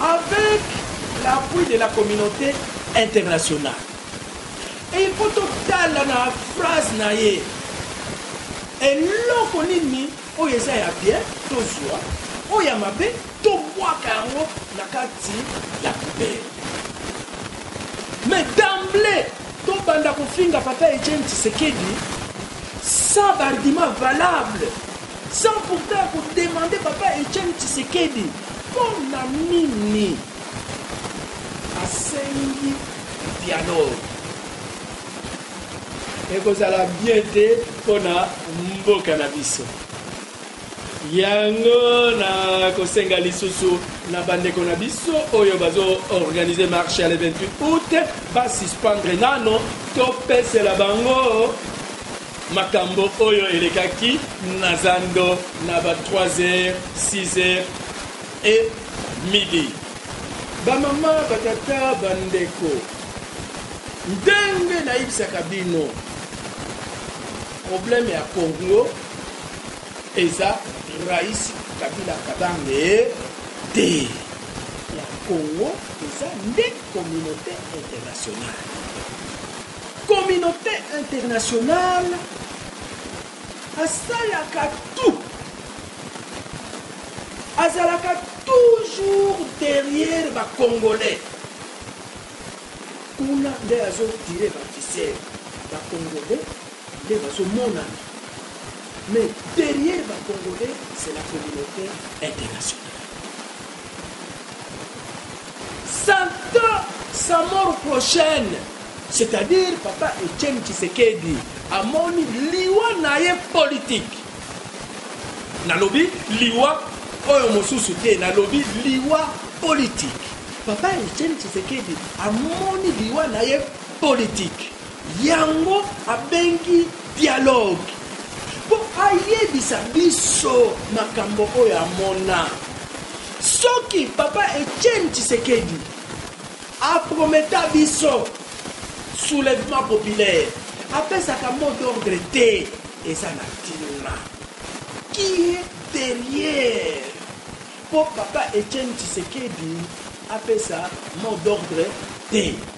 Avec l'appui de la communaute internationale. Et il faut totala na phrase na ye. Eloko nini oyo eza ya bien tozwa oyo ya mabe tobwaka yango na kati ya poubelle. Mais d'emblée tobanda kofinga papa Etienne Tshisekedi sans argument valable. Sans pourtant ya ko demander papa Etienne Tshisekedi mpo na nini asengi dialogue. Ekozala bien te mpo na mboka na biso. Yango na kosenga lisusu na bandeko na biso oyo bazo organiser marche ya le 28 août ba suspendre nano topesela bango Makambo oyo elekaki na zando na ba trois heures, six heures et midi. Ba mama, ba tata, ba ndeko, ndenge nayebisaka bino, problème ya Congo eza Rais Kabila Kabange te. Ya Congo eza nde communaute internationale. Communaute internationale asalaka tout azalaka toujours derrière ba congolais kuna nde azo tire ba ficelle ba congolais nde bazomonana mais derrière ba congolais c'est la communauté internationale Santa sa mort prochaine c'est à dire papa Etienne Tshisekedi amoni liwa naye politique nalobi liwa oyo mosusu te nalobi liwa politique papa Etienne Tshisekedi amoni liwa naye politique Yango abengi dialogue po ayebisa biso makambo oyo amona. Soki papa Etienne Tshisekedi a prometa biso soulevement populaire apesaka mot d'ordre te eza na tina. Qui est derriere po papa Etienne Tshisekedi apesa mot d'ordre te?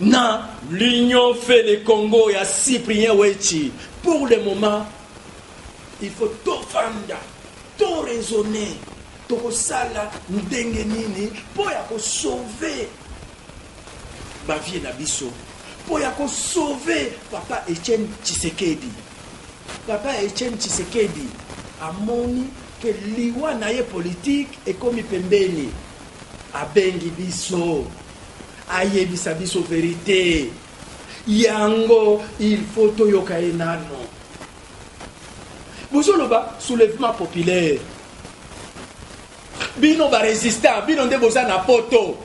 na l'union fait le congo ya cyprien wechi pour le moment il faut tofanda to raisonne tokosala ndenge nini mpo ya kosauve bavie na biso mpo ya kosauve papa etienne tshisekedi papa etienne tshisekedi amoni ke liwa na ye politike ekomi pembeni abengi biso ayebisa biso verite yango il faut toyoka ye nano bozoloba soulèvement populaire bino barésistant bino nde boza na poto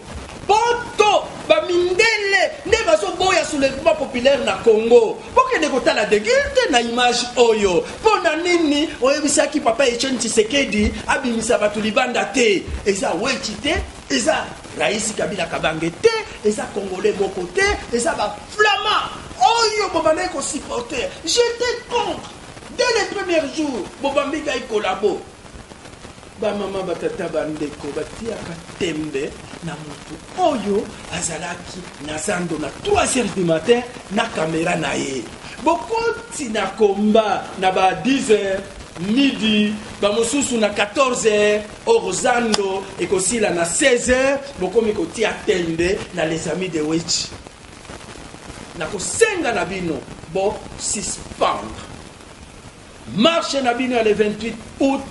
poto bamindele nde bazoboya soulèvement populaire na congo bokende kotala degilte na image oyo mpo na nini oyebisaki papa etienne tshisekedi abimisa bato libanda te eza weti te eza raisi kabila kabange te eza congolais moko te eza baflamand oyo bobandaki kosupporter j'étais contre dès le premier jour bobambi ngai kolabo bamama batata bandeko batiaka tembe na motu oyo azalaki na zando na 3 heures du matin na kamera na ye bokoti na komba na ba 10 heures midi bamosusu na 14 heures Or zando ekosila na 16 heures bokomi kotia tembe na les amis de Wetshi. Nakosenga na bino bo suspendre marche na bino ya le 28 août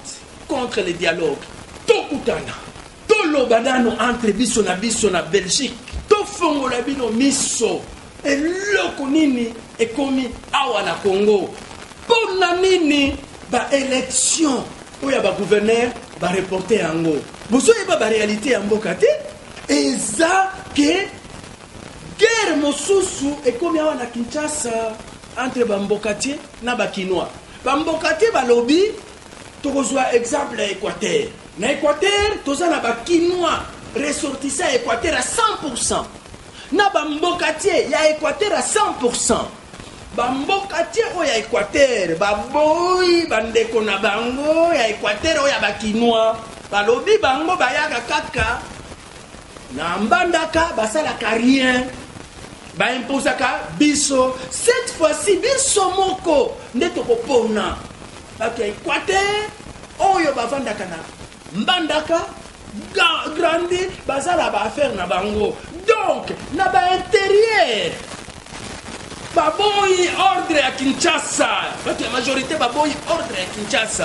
contre le dialogue. Tokutana, toloba nano entre biso na biso na Belgique, tofongola bino miso Eloko nini ekomi awa na Congo? Mpo na nini ba election oyo ya ba gouverneur ba reporte yango? Bozoyeba ba realite ya mboka te, eza ke guerre mosusu ekomi awa na Kinshasa entre ba mbokatier na ba kinois. Ba mbokatier balobi tokozwa exemple ya Equateur. Na Equateur toza na ba kinois ressortissant ya Equateur ya 100%. na ba mbokatier ya equateur a 100 pourcent ba mbokatier oyo ya equateur baboyi bandeko na bango ya equateur oyo ya bakinois balobi bango bayaka kaka na mbandaka basalaka rien baimposaka biso cette fois-ci biso moko nde tokopona bato ya equateur oyo bavandaka na mbandaka grande baza na baaffaire na bango donc na bainterieur baboyi ordre ya kinshasa bato ya majorité baboyi ordre ya kinshasa